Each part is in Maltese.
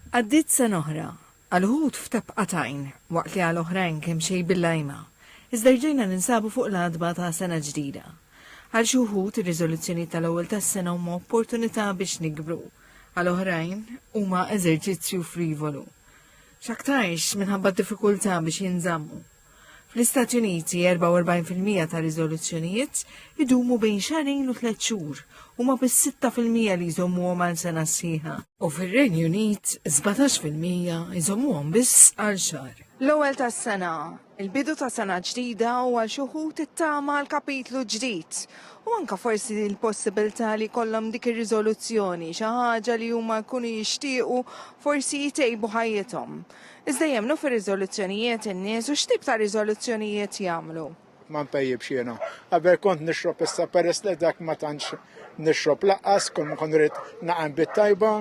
Għaddiet sena oħra, għal uħud f'tebqa t'għajn, waqt li għal oħrajn kemxejn bil-lajma, iżda rġajna ninsabu fuq l-għatba ta' sena ġdida. Għal xi wħud, ir-riżoluzzjonijiet tal-ewwel tas-sena huma opportunità biex nikbru, għal oħrajn, huma eżerċizzju frivolu. X'aktarx minħabba d-diffikultà biex jinżammu. Fl-Istati Uniti, 44% ta' riżoluzzjonijiet idumu bejn xarejn u tliet xhur, huma biss 6% li jżommuhom għal sena sħiħa. U fir-Renju Unit, 17% jżommuhom biss għal xahar. L-ewwel tas-sena, il-bidu ta' sena ġdida u għal xi wħud it-tama għal kapitlu ġdid, u anke forsi l-possibilità li jkollhom dik ir-riżoluzzjoni, xi ħaġa li huma jkunu jixtiequ forsi jtejbu ħajjithom. Iżda jemmnu fir-riżoluzzjonijiet in-nies u x'tip ta' riżoluzzjonijiet jagħmlu? Ma npejjibx jiena. Qabel kont nixrob issa peress li dak ma tantx nixrob laqqas, kull ma kont rrid naqgħem bit-tajba.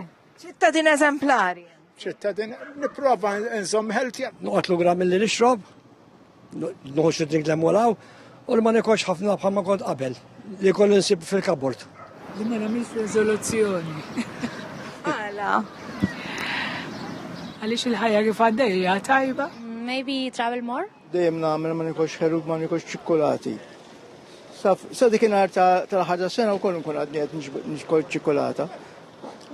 Ċittadin eżemplari. Ċittadin nipprova nżomm healthy. Noqgħod lura milli nixrob. Nħoss id-drink l-emmolaw u li ma nekolx ħafna bħal ma kont qabel li kollu nsib fil-kabort. Li ma nagħmilx riżoluzzjoni. Għala. Għaliex il-ħajja kif għaddejja tajba? Maybe travel more? Dejjem nagħmel ma nikolx ħerub ma nikolx ċikkulati. Sa dik inhar tal-ħaġa sena wkoll nkun għadni qed nixkol ċikkulata.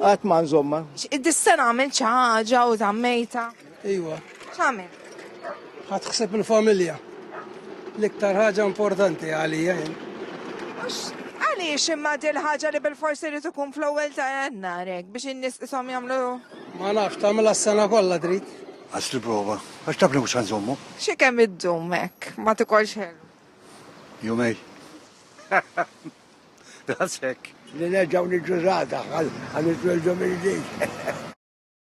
Għat ma nżomma. Id-dissena għamil ċaġa u tammejta. Iwa. X'għamil? Ħadd ħseb il-familja. L-iktar ħaġa importanti għalija jien. Għaliex imma dil ħaġa li bil-forsi li tkun fl-ewwel ta' jannar biex in-nies ishom jagħmlu. Ma nafx tagħmilha s-sena kollha trid. Għax li prova, għax taf li mhux ħanżommu. Xi kemm iddum hekk, ma tikolx ħelu. Jumej. Dasek. Li nerġgħu niġġużata għal iż-żewġ